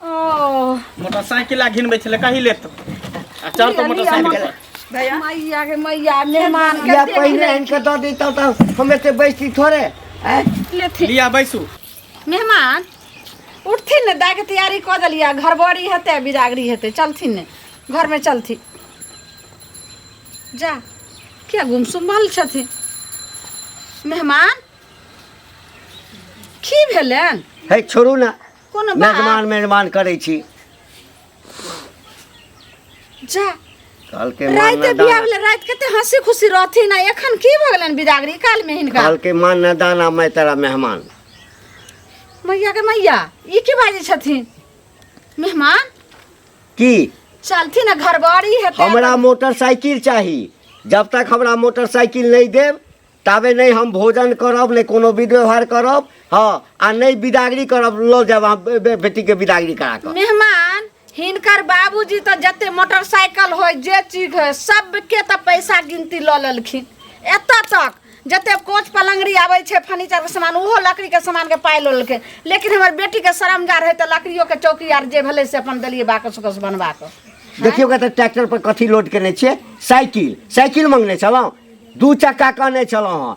Motorcycle आ घिनबै छलै कही लेत आ चढ़ तो मोटरसाइकिल भैया मैया के मैया मेहमान या पहिने इनके दऽ दी तब तऽ हम एते बैसी थोड़े आँय? लेथिन लिया बैसू मेहमान उठथिन ने दाय के तैयारी कऽ देलियै घरबड़ी हेतै बिरागरी हेतै चलथिन ने घरमे चलथिन जा किया गुमसुम भल छथिन मेहमान की भेलनि है छोड़ू ना कोनो बात मेजमान मेजमान करै छी जा काल के मान राति ना बिया दाना भेलै राति कते हंसी खुशी रहथिन आ एखन की भऽ गेलनि बिदागरी काल में हिनका काल के मान ना दाना मैं तेरा मेहमान मैया के मैया ई की बाजै छथिन मेहमान की चलथिन आ घर बड़ी हेतै हमरा मोटरसाइकिल चाही जब तक हमरा मोटरसाइकिल नहीं देब ताबे नहि हम भोजन करब नहि कोनो विध व्यवहार करब हँ आ नहि विदागरी करब लऽ जायब अहाँ बे- बे- बेटीके विदागरी करा कऽ मेहमान हिनकर बाबूजी तऽ जते मोटरसाइकिल होय जे चीज होय सबके तऽ पैसा गिनती लऽ लेलखिन एतऽ तक जते कोच पलंगड़ी आबै छै फर्नीचर के सामान ओहो लकड़ी के सामान के पाइ लऽ लेलकै लेकिन हमर बेटी के शरम जा रहै तऽ लकड़ियो के चौकी आर जे भेलै से अपन देलियै बाकस उकस बनबा कऽ देखियौ कतऽ ट्रैक्टर पर कथी लोड केने छियै साइकिल साइकिल मंगने छलहुँ दू चक्का कहने छलहुँ हँ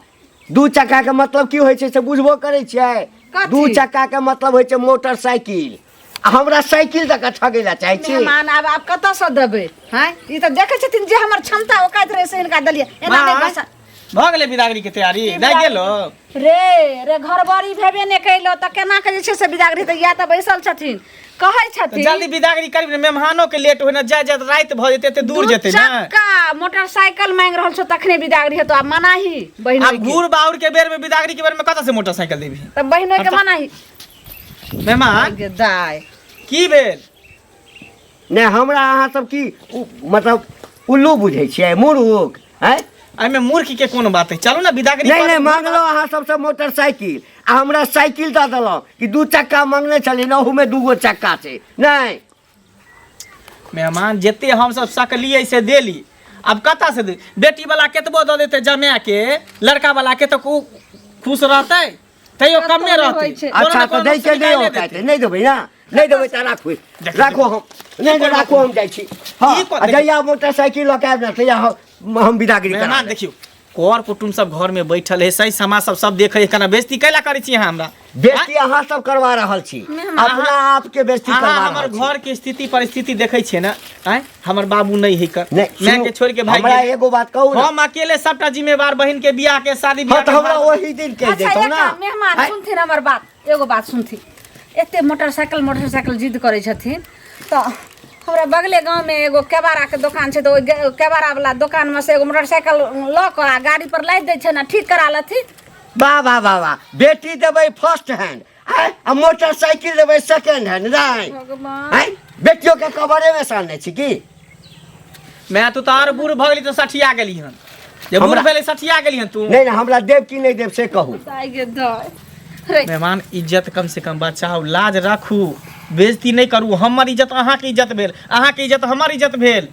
दू चक्का के मतलब की होइ छै से बुझबो करै छियै कथी? दू चक्का के मतलब होइ छै मोटरसाइकिल आ हमरा साइकिल दऽ कऽ ठगै लए चाहै छी मेहमान आब आब कतऽ से देबै हैं ई तऽ देखै छथिन जे हमर क्षमता ओकाइत रहै से हिनका देलियै एना नहि माय, बसा भऽ गेलै बिदागरी के तैयारी नहि गेलो रे रे घरबड़ी भेबे नहि कैलो तऽ केना के जे छै से बिदागरी तऽ इएह तऽ बैसल छथिन कहै तऽ छथिन जल्दी विदागरी करबी ने मेहमानो के लेट होय ना जाय जाय रात भऽ जेतै एते दूर दू जेतै ना चक्का मोटरसाइकिल मांग रहल छौ तखने विदागरी हेतौ आ मनाही बहिन आब घूर बाउर के बेर में विदागरी के बेर में कतऽ से मोटरसाइकिल देबी तऽ बहिनो के हटा। मनाही मेहमान गे दाय की भेल नहि हमरा अहाँ सब की उ- मतलब उल्लू बुझै छियै मूर्ख हैं एहिमे मूर्ख के कोन बात है चलू ना विदा करी नहीं नहीं मांगलो अहाँ सबसे मोटरसाइकिल आ हमरा साइकिल दऽ देलहुँ कि दू चक्का मांगने छलियै ने ओहूमे दूगो चक्का छै नहि मेहमान जते हमसब सकलियै से देली आब कतऽ से दे बेटी वाला केतबो दऽ देते जमाय के लड़का वाला के तऽ उ- खुश रहतै तैयो कमे रहतै अच्छा तऽ दै के नहि होतै नहि देबै ने नहि देबै तऽ राखबै राखो हम नहि तऽ राखो हम जाइ छी हँ ई कोन- आ जहिया मोटरसाइकिल लऽ के आबि ने तहिया हम हम बिदागरी करा मेहमान देखियौ कर कुटुम सब घर में बैठल है सही समाज सब सब देखे है केना बेइज्जती कैला करै छी अहाँ हमरा बेस्ती अहाँ सब करबा रहल छी अपना आप के बेस्ती अहाँ करबा हमर रहल छी घर के स्थिति परिस्थिति देखै छियै ने आय हमर बाबू नहि है कर नहि माय सुनू, के छोड़ के भाग हमरा गेल। एगो बात कहू ना हम अकेले सबटा जिम्मेवार बहिन के बियाह के शादी हाँ बियाह तो के हमरा बात- वही दिन कह अच्छा देता एक ना काम, मेहमान आय, सुनथिन हमर बात एगो बात सुनथिन एते मोटरसाइकिल मोटरसाइकिल जिद करै छथिन तऽ हमरा बगले गाँवमे एगो केबाड़ाके दोकान छै तऽ ओहि गे- केबाड़ावला दोकानमे से एगो मोटरसाइकिल लऽ कऽ आ गाड़ीपर लादि दै छै ने ठीक करा लेथिन वाह वाह वाह वाह बेटी देबै फर्स्ट हैंड आय आ मोटरसाइकिल देबै सेकेंड हैंड नहीं भगवान आय बेटियों के कबरे में सानने छी की मैं तू तार बूढ़ भ गेली तो सठिया गेली हन जब बूढ़ हमरा- भेले सठिया गेली हन तू नहीं ना हमरा देव की नहीं देव से कहू दाय गे दाय रे मेहमान इज्जत कम से कम बचाओ लाज राखू बेइज्जती नहीं करू हमर इज्जत अहाँ के इज्जत भेल अहाँ के इज्जत हमर इज्जत भेल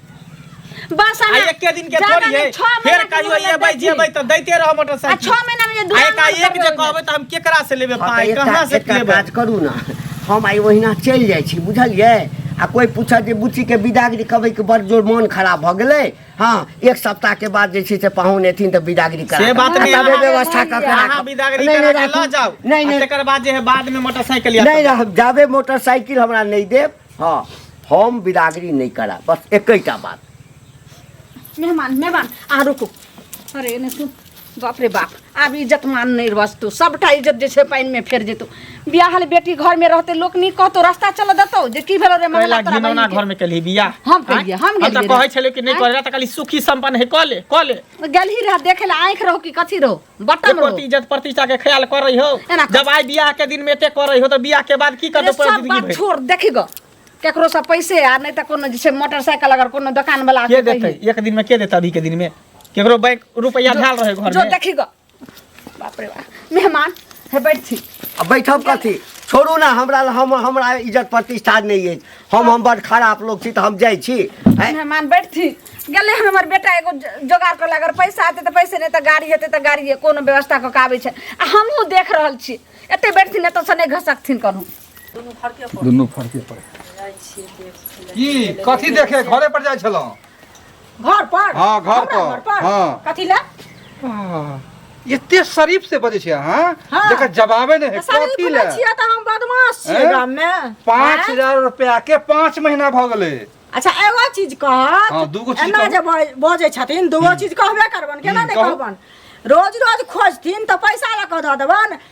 बस आ ना एके दिन के जाना थोड़ी नहीं, है छह महीना फेर के कहियो मोहलत एबै दै छी। जेबै तऽ दैते रह आ मोटरसाइकिल छह महीना में जे आ दूरा एकाएक जे कहबै तऽ हम केकरा से लेबै हाँ, पाइ तऽ एक कहाँ का- से एक का लेबै काज करू ना हम आइ ओहिना चलि जाइ छी बुझलियै आ कोइ पूछत जे बुच्चीके बिदागरी कहबै कि बड़ जोर मोन खराब भऽ गेलै हँ एक सप्ताहके बाद जे छै से पाहुन एथिन तऽ बिदागरी करा से देब। बात आ नहि, तबे अहाँ- व्यवस्था कऽ के अहाँ राखब। बिदागरी नहि, करा नहि, कऽ लऽ राखू। जाउ नहि आ नहि तकर बाद जे है बाद में मोटरसाइकिल या नहि रहब जाबे मोटरसाइकिल हमरा नहि देब हँ हम बिदागरी नहि करा बस एकैटा बात मेहमान मेहमान अहाँ रुकू अरे एने सुन बाप रे बाप आब इज्जत मान नहि बचतौ सभटा इज्जत जे छै पानिमे फेर जेतौ बियाहल बेटी घरमे रहतै लोक नीक कहतौ रास्ता चलऽ देतौ जे की भेलौ रे कैला महिला तोरा घिनौना बहिनके। घर में केली बिया हम केलियै, हम हम गेलियै तऽ कहै रे। छलियै कि नहि आँय? करै तऽ कहली सुखी संपन्न है कऽ ले कऽ ले गेलही रह देखे ला आँखि रहौ कि कथी रहौ बटम एको रहौ ती इज्जत प्रतिष्ठा के ख्याल करै हो एना कर। जब आइ बियाह के दिन में एते करै हो तऽ बियाह के बाद की रे, करतौ पूरा सब जिंदगी बात भरि छोड़ देखी गो केकरो से पैसे आ नहीं तो कोनो जे छै मोटरसाइकिल अगर कोनो दुकान वाला के देते एक दिन में के देते अभी के दिन में केकरो बैंक रुपया धाल रहे घर में जो देखी गो बाप रे बाप मेहमान हे बैठ थी आ बैठब कथी छोड़ू ना हमरा ल- हम हमरा इज्जत प्रतिष्ठा नहीं अछि हम हम बड़ खराब लोग छी तऽ हम जाइ छी हैं? मेहमान बैठ थी गेले हन हमर बेटा एगो ज- जोगाड़ कर अगर पैसा आते तो पैसे नहीं तो गाड़ी हेते तो गाड़ी कोनो व्यवस्था कऽ के आबै छै आ हमहूँ देख रहल छी एते बैठ थी नहीं तो सने घसकथिन करू दुनू फरके पर दुनू फरके पर जाइ छियै देख लै। की कथी देखे घरे पर जाइ छलहुँ घर पर हाँ, घर हमरा पर, घर पर हाँ। कथी ले आह, एते शरीफ से बजै छै अहाँ हाँ। जकर जवाबे नहि है सारी कथी ले पूछै छियै तऽ हम बदमाश छियै हैं? गाम मे पाँच हैं? हजार रुपया के पाँच महीना भऽ गेलै अच्छा एगो चीज कहत हाँ, दूगो चीज एना कहू। जे बज- बजै छथिन दूगो चीज कहबे करबन केना हम्म, नहि कहू। कहबन रोज रोज खोजथिन तऽ पैसा लऽ कऽ दऽ देबन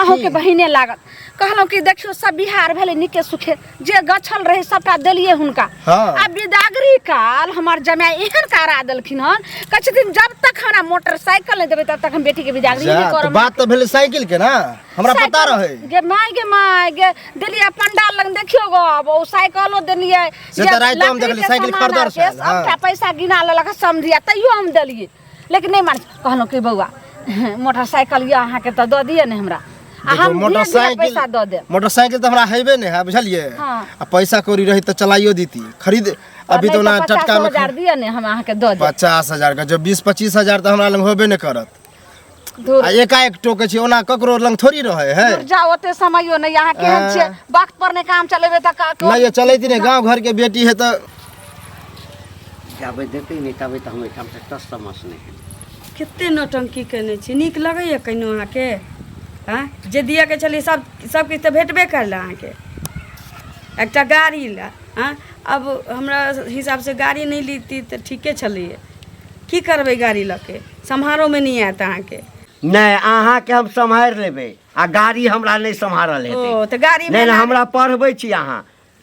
अहूँ के बहिने लागत कहलहुँ कि देखियौ सब बिहार भेलै नीके सुखे जे गछल रहै सबटा देलियै हुनका हाँ। आ बिदागरी काल हमर जमाय एहन कारा देलखिन हन कहै छथिन जब तक हमरा मोटरसाइकिल नहि देबै तब तक हम बेटी के बिदागरी जा, नहि तो करब बात तो भेले साइकिल के ना हमरा पता साइकिल- रहे गे माय गे माय गे देलियै पंडाल लग देखियो गो अब ओ साइकिलो देलियै से जे तऽ राइतो हम लकड़ी देखलियै, के साइकिल सामान खरीदल आर के छल, हाँ। सबटा पैसा गिना लेलक समझिया तैयो हम देलियै लेकिन नहि मानै छै। कहलहुँ कि बौआ मोटरसाइकिल यऽ अहाँके तऽ दऽ दिअ ने हमरा आ देखियौ, हम धीरे धीरे पैसा दऽ देब मोटरसाइकिल तऽ हमरा हेबे नहि है बुझलियै हाँ। आ पैसा कौड़ी रही तऽ चलाइयो दीती खरीद अभी तो ना टटका में हजार दिअ ने हम अहाँके दऽ देब पचास हजार का जो बीस पच्चीस हजार तो हमारा लग होबे नहीं करत धुर आ एकाएक टोकै छी ओना ककरो लग थोड़ी रहै है धुर जा ओते समयो नहीं यहाँ केहन हाँ। छियै वक्त पर नहीं काम चलेबे त का नहीं ये चलैत ने गांव घर के बेटी है तो जाबे देते नहीं तबे तो हम एठाम से टस समस नहीं है कते नौटंकी केने छी नीक लगैए कहिनो अहाँके हँ जे दिअके छलै सब सबकिछु तऽ भेटबे करल अहाँके एकटा गाड़ी लए हँ अब हमरा हिसाबसँ गाड़ी नहि लीती तऽ ठीके छलैए की करबै गाड़ी लऽ के सम्हारो में नहीं आयत अहाँ के नहि अहाँके हम सम्हारि लेबै आ गाड़ी हमरा नहि सम्हारल हेतै ओ, तऽ गाड़ीमे नहि नहि अनाड़ी- हमरा पढ़बै छी अहाँ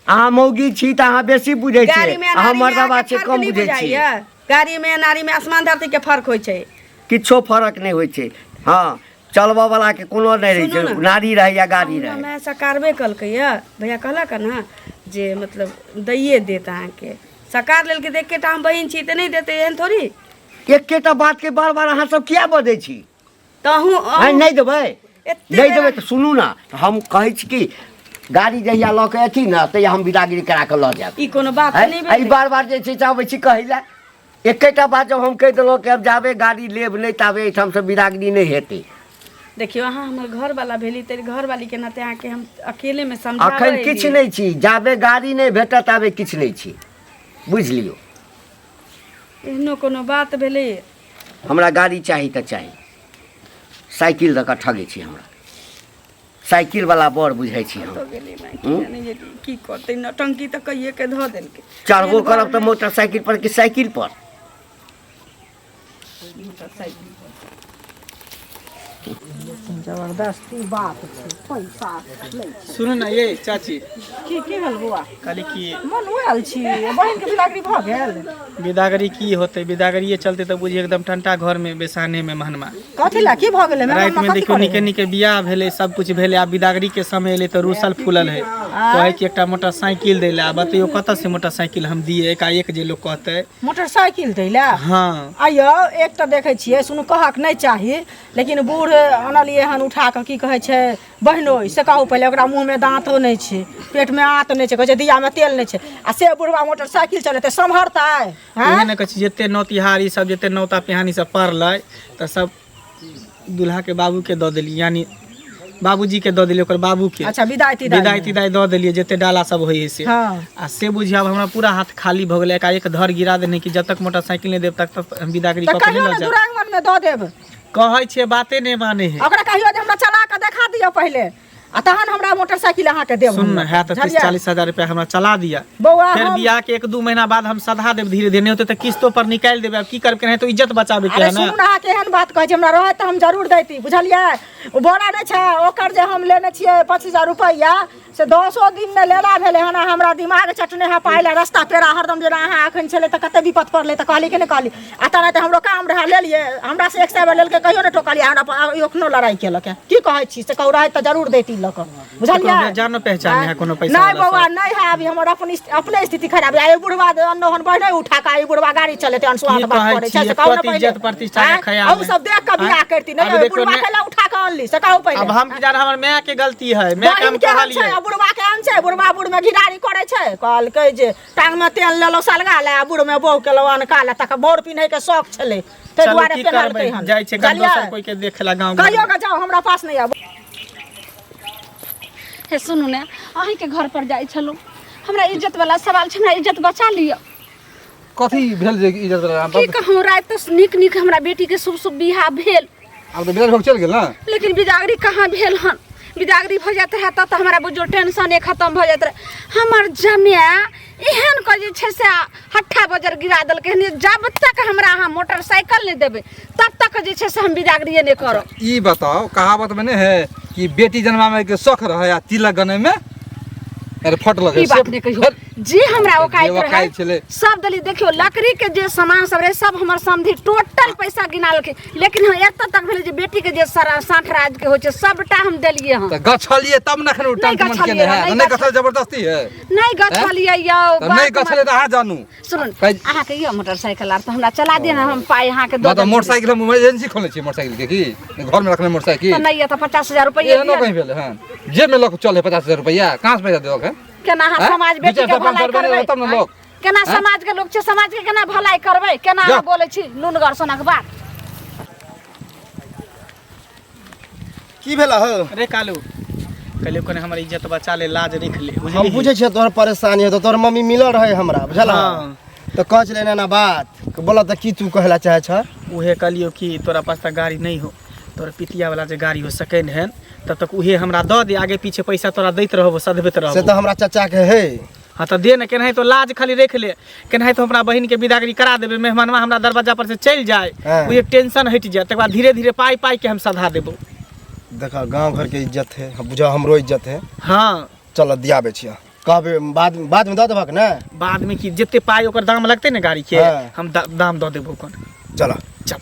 अहाँ मौगी छी तऽ अहाँ बेसी बुझै गाड़ी छियै में अहाँ अनाड़ी में मर्दबा अहाँके छियै फर्क कम नहीं बुझै छियै बुझाइया गाड़ी में अनाड़ी में आसमान धरती के फर्क होय छै किछो फरक नहि होइ छै हँ चलबऽ वाला के कोनो नहि रहै सुनू छै ने। नारी रहै या गाड़ी हमरा रहै में सकारबे कलकै या भैया कहलक ना जे मतलब दैये देत अहाँके सकार लेलकै देख के टा हम बहिन छी तऽ नहीं देते एहन थोड़ी एकेटा बात के बार बार अहाँ सब किया बजै छी तहूँ आइ अहूँ- नहि देबै एते नहि देबै बेरा- तऽ सुनू ने तऽ हम कहै छी कि गाड़ी जहिया लऽ के अथी ने तहिया हम विदागिरी करा कऽ लऽ जायब ई कोनो बात है? नहि आ ई भेलै बार बार जे छै से अबै छी कहै लए एकेटा बात जब हम कहि देलहुँ कि अब जाबे गाड़ी लेब नहि ताबे एहिठामसँ विदागिरी नहि हेतै देखियो अहाँ हमर घर वाला भेली तेरे घर वाली के नाते अहाँके हम अकेले में समझा अखन किछु नहि छी जाबे गाड़ी नहि भेटत ताबे किछु नहि छी बुझि लियौ एहनो कोनो बात भेलै हमरा गाड़ी चाही तऽ चाही साइकिल दऽ कऽ ठगै छी हमरा साइकिलवला बड़ बुझै छी हम कतऽ गेलै माय की जाने गेली की करतै नौटंकी तऽ कहिए के धऽ देलकै चढ़बो करब तऽ मोटरसाइकिल पर कि साइकिल पर जबरदस्ती बात छै पैसा लै छै सुनू ने ये चाची की की भेल बौआ कहली कि मन आयल छी बहिन के बिदागरी भऽ गेल बिदागरी की होते बिदागरिये चलते तऽ बुझिए एकदम ठंटा घर में बेसाने में महनमा कथी ला की भऽ गेलै राति में देखियो निके निके बियाह भेलै सब कुछ भेलै आब बिदागरी के समय एलै तऽ रूसल फूलल है कहै कि एकटा मोटरसाइकिल दै लए आब बतैयो कतऽ से मोटरसाइकिल हम दिए एकाएक जे लोग कहतै मोटरसाइकिल दै लए हँ आइयो एक तऽ देखै छियै सुनू कहक नहि चाही लेकिन बूढ़ आनलियै हन उठा कऽ की कहै छै बहिनोइ से कहू पहिले ओकरा मुँहमे दाँतो नहि छै पेटमे आँत नहि छै कहै छै दियामे तेल नहि छै आ से बुढ़वा मोटरसाइकिल चलेतै सम्हरतै उएह आँय ने कहै छी जते नौतिहारी सब जते नौता पिहानी सब पड़लै तऽ सब दूल्हा के बाबू के दऽ देली यानी बाबूजी के दऽ देली ओकर बाबू के अच्छा विदाई तिदाई विदाई में। तिदाई दऽ देलियै जते डाला सब होइ है से हाँ। आ से बुझिया अब हमरा पूरा हाथ खाली भऽ गेलै एकाएक धर गिरा देने कि जब तक मोटरसाइकिल नहि देब तब तक हम बिदागरी तऽ कऽ के कहियो नहि ने लऽ जायब दुरागमन में दऽ देब कहै छियै बाते नहि माने है ओकरा कहियो जे हमरा चला कऽ देखा दियौ पहिले आ तहन हमरा मोटरसाइकिल अहाँके देब सुन हम। ना है तो तीस बुझलियै? चालीस हजार रुपया हमरा चला दिया बौआ फिर हम- बियाह के एक दू महीना बाद हम सधा देब धीरे धीरे नहीं होते तो किस्तों पर निकाल देबे अब की करब के नहीं तो इज्जत बचाबे के अरे है ना सुनू ने अहाँ केहन बात कहै छी हमरा रहत तऽ हम जरूर दैती बुझलियै ओ बोरा नहि छै ओकर जे हम लेने छियै पच्चीस हजार रुपैआ से दसो दिन ने लेला भेलै हन आ हमरा दिमाग चटने है पाइ लए रस्ता पेरा हरदम जेना अहाँ एखन छलै तऽ कते विपत पड़लै तऽ कहली कि नहि कहली आ तब तऽ हमरो काम रहै लेलिए हमरा से एक सौ बेर लेलकै कहियो ने टोकलिए हमरा एखनो लड़ाई केलक की कहै छी से कहू रहै तऽ जरूर देती लऽ कऽ बुझलियै जानो पहचान है कोनो पैसा नहीं बौआ नहीं है अभी हमर अपन अपने स्थिति खराब है बुढ़वा अनोहन बहने उठा का ई बुढ़वा गाड़ी चलेते अनसुआत बात करे छै से कहू ने इज्जत प्रतिष्ठा के ख्याल हम सब देख के बियाह करती नहीं बुढ़वा के ला उठा के अनली से कहू पहिले अब हम किधर हमर माय के गलती है माय काम कहलिए बुढ़वा के अन छै बुढ़वा बुढ़ में घिरारी करे छै कहलकै जे टांगमे तेल लेलहुँ सलगा ले आ बुढ़मे बहू केलहुँ अनका ले तक बोर पिन्हैके शौक छलै ताहि चलू दुआरे की करबै पेन्हलकै हन जाइ छै कल दोसर कोई के देखे ला गांव कहियो के जाओ हमरा पास नहीं आबो हे सुनू ने अहींके घर पर जाइ छलहुँ हमरा इज्जत वाला सवाल छै हमरा इज्जत बचा लिअ कथी भेल जे इज्जत वाला की कहूँ राति तऽ नीक नीक हमरा बेटीके शुभ शुभ बियाह भेल आब तऽ बिराज भोग चलि गेल ने लेकिन बिदागरी कहाँ भेल हन बिदागरी भऽ जाइत रहए तब तऽ हमरा बुझो टेंशने खत्म भऽ जाइत रहए हमर जमाए एहन कऽ जे छै से हट्ठा बजर गिरा देलकै हन जे जब तक हमरा अहाँ मोटरसाइकिल नहि देबै तब तक जे छै से हम बिदागरिए नहि करब ई बताओ कहावत में नहीं है कि बेटी जन्मा में के शौक रहे आ तिलक गने में अरे फट लगे ई बात नहीं कहियो। जे हमरा जे ओकाइत ओकाइत रहै छलै। सब देली देखियो लकड़ी के जे सामान सब रहे सब हमर समधि टोटल पैसा गिना लेलखिन लेकिन हम एतऽ तक भेलै जे बेटी के जे सारा साठ राज के होइ छै सबटा हम देलियै हँ तऽ गछलिए तब ने एखन ओ नहि टंटमन गछलियै केने रह, है तऽ नहि नहि गछल जबरदस्ती है नहि गछलियै यौ तऽ बात नहि मान- गछले तऽ अहाँ जानू सुनू ने, कै- अहाँके यौ मोटरसाइकिल आर तऽ हमरा चला दिअ ने हम पाइ अहाँके दऽ मतलब देब। मोटरसाइकिल हम इमरजेंसी खोलने छियै मोटरसाइकिल के की घरमे रखने तऽ मोटरसाइकिल नहि यऽ तऽ पचास हजार रुपैआ एहनो दिअ ने। कहीं भेल हन जेबमे लऽ कऽ चल है पचास हजार रुपैआ कहाँ से पैसा देबऽ के केना अहाँ हैं? समाज दू बेटी चारि के टा पाँच भलाई सौ रुपया करबै देबै, तब ने लोग। केना हैं? समाज के लोग छै समाज के केना भलाई करबै केना जा। अहाँ बोलै छी नुनगर सोनक बात की भेला हो अरे कालू कहलियो कने हमर इज्जत बचा ले लाज रख ले हम बुझे छियै तोहर परेशानी हो तो तोहर मम्मी मिलल रहे हमरा बुझल हाँ। तो कह चले ना बात बोला तो की तू कहला चाहे छ उहे कहलियो कि तोरा पास त गाड़ी नहीं हो तोर पितिया वाला जे गाड़ी हो सकेन है तब तक उहे हमरा द दे आगे पीछे पैसा तोरा दैत रहबो सधबैत रहबो से तो हमरा चाचा के है हाँ तो दे ना केनाही तो लाज खाली रख ले केनाही तो हमरा बहन के विदागरी करा देबे मेहमानवा हमरा दरवाजा पर से चल जाए हाँ। उहे टेंशन हट जाए तकर बाद धीरे धीरे पाई पाई के हम सधा देबो देखा गांव घर के इज्जत है बुझा हमरो इज्जत है हाँ चल दियाबे छिया कहबै बाद बादमे दऽ देबहक ने बादमे की जते पाइ ओकर दाम लगतै ने गाड़ीके हँ। हम दा- दाम दऽ देबो ओकर चलऽ चल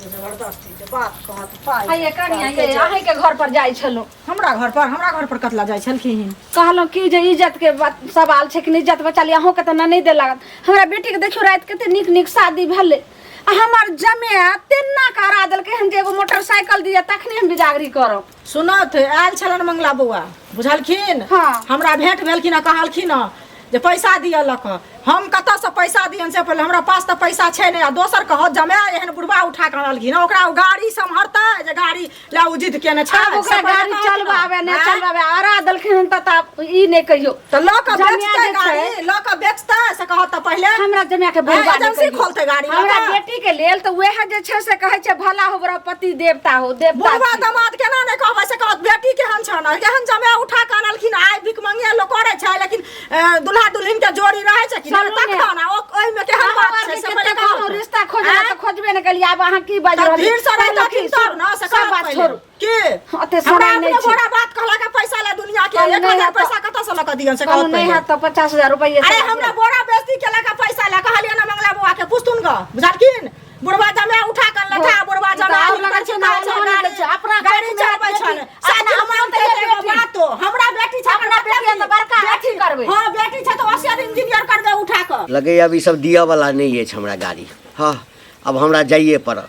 जबरदस्ती जे बात कहत पाइ आइए कनिया ये अहीं के घर पर जाइ छलहुँ हमरा घर पर हमरा घर पर कतला जाइ छलखिन कहलहुँ कि जे इज्जत के बात सवाल छै कि नहि इज्जत बचा लिया अहूँके तऽ नहि दे लागत हमरा बेटी के देखियो राति कते नीक नीक शादी भेलै आ हमर जमे तेना करा देलकै हन जे एगो मोटरसाइकिल दिया तखने हम बिजागरी करब सुनत आयल छलनि मंगला बौआ बुझलखिन हाँ। हमरा भेंट भेलखिन आ कहलखिन हँ जे पैसा दिअ लऽ कऽ हम कतऽसँ पैसा दियनि से पहिले हमरा पास तऽ पैसा छै नहि आ दोसर कहत जमाय एहन बुढ़बा उठा कऽ अनलखिन हँ, ओकरा ओ गाड़ी सम्हरतै जे गाड़ी लए ओ जिद केने छै आब ओकरा से पहिले गाड़ी कहलखिन हँ। चलबाबे नहि आँय? चलबाबे अरा देलखिन हन तऽ आब ई नहि कहियो तो लऽ के जमिया बेचते जे छै। गाड़ी लऽ के बेचते से कहत तऽ पहिले हमरा जमिया के बुढ़बा एजेंसी निकलि गेल। खोलतै गाड़ी लऽ हमरा कऽ। बेटी के लेल तऽ वएह जे छै से कहै छै भला हो बड़ा पति देवता हो देवता बुढ़वा छी। दामाद केना नहि कहबै से कहत बेटी केहन छन केहन जमे उठा कऽ अनलखिन आइ भिक मंगिया लोक करै छै लेकिन अ, दुल्हा दुल्हिन के जोड़ी रहै छै कि चलू ने। तक ना ओ ओहिमे केहन अहाँ बात आर छै जे से कते पहिले कहू कहू। रिश्ता खोजला आँय? तऽ खोजबे ने कलियै आब अहाँ की बाजि तऽ रहलियै? भीड़ से रहितथिन तब ने, से सब कहत बात पहिले। छोड़ू के अते हमरा समय अपने नहीं छै घोड़ा बात कहला का पैसा ला दुनिया के कल एक नहीं हजार है तो- पैसा कतऽ से लक दियन से कल कहत नहीं पहिले। है तो पचास हजार रुपये अरे हमरा बोरा बेइज्जती केला का पैसा ला कहलिए ना मंगला बुआ के पुस्तुन ग बुझलखिन बुढ़वा जमे उठा कर लठा बुढ़वा जमे तो और आदमी लगा कर छै, चुका नाम छै लगा गाड़ी छै, अपना गाड़ी घर में चलबै बेटी, छन अपना साथ हमरा हम तऽ बेटी। एगो बात हो, हमरा बेटी छै हमरा बेटी है तो बड़का अथी करबै। हां बेटी छै तऽ ओसियर इंजीनियर कर दे उठा कर लगे अब ई सब दिअ वाला नहीं अछि हमरा गाड़ी हाँ अब हमरा जाइए पड़त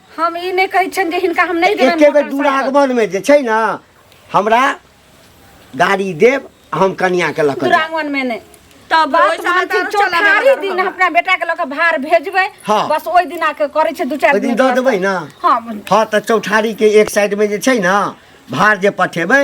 हम ई नहि कहै छियनि जे हिनका हम नहि देबनि एके बेर मोटर दूर साइकिल। आगमन में जे छै ने हमरा गाड़ी देब आ हम कनिया के लऽ कऽ जायब। दुरांगन में ने तब बात ओहि समय मानथिन तारो चलाबे चौठारी वाला दिन रहल। अपना बेटा के लऽ के भार भेजबै हाँ। बस ओहि दिना के करै छै दू चारि ओहि दिन दऽ देबै ने हाँ हाँ तऽ चौठारी के एक साइड में जे छै ने भार जे पठेबै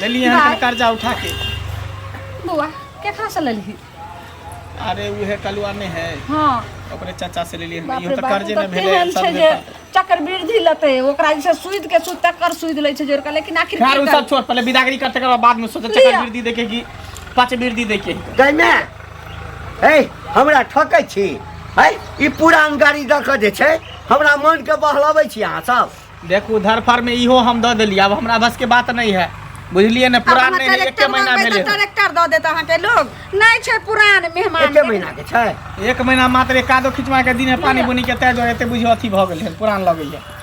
लेली हन भाय। कन कर्जा उठा के बौआ केकरा से लेलही अरे उहे कलुआ ने है हँ ओकरे चाचा से लेली हन बाप इहो रे तऽ बाप, कर्जे उ ने तऽ भेलै तेहन सब छै जे जे चक्कर वृद्धि लेतै ओकरा जैसे सूद के सूद तकर सूद लै छै जोड़का लेकिन आखिर खैर की उ सब करतै? छोड़ पहिले विदागरी कर तकर बाद में सोचे लिअ। चक्कर वृद्धि देखे कि पाँच वृद्धि देखे गई माय हे हमरा ठकै छी है ई पुरान गाड़ी दऽ कऽ जे छै हमरा मोनके बहलबै छी अहाँ सब देखू धरफर में इहो हम दऽ देलियै आब हमरा बस के बात नहि है बुझलियै ने पुरान अपना नहि है, एके कलेक्टर महीना मंगबै भेलै तऽ कलेक्टर दऽ देत अहाँके लोग नहि छै पुरान मेहमान एके महीना के छै एक महीना मात्र एकादो खिचवा के दिन है पानी बुनी के तय दुआरे एते बुझियो अथी भऽ गेल है पुरान लगैया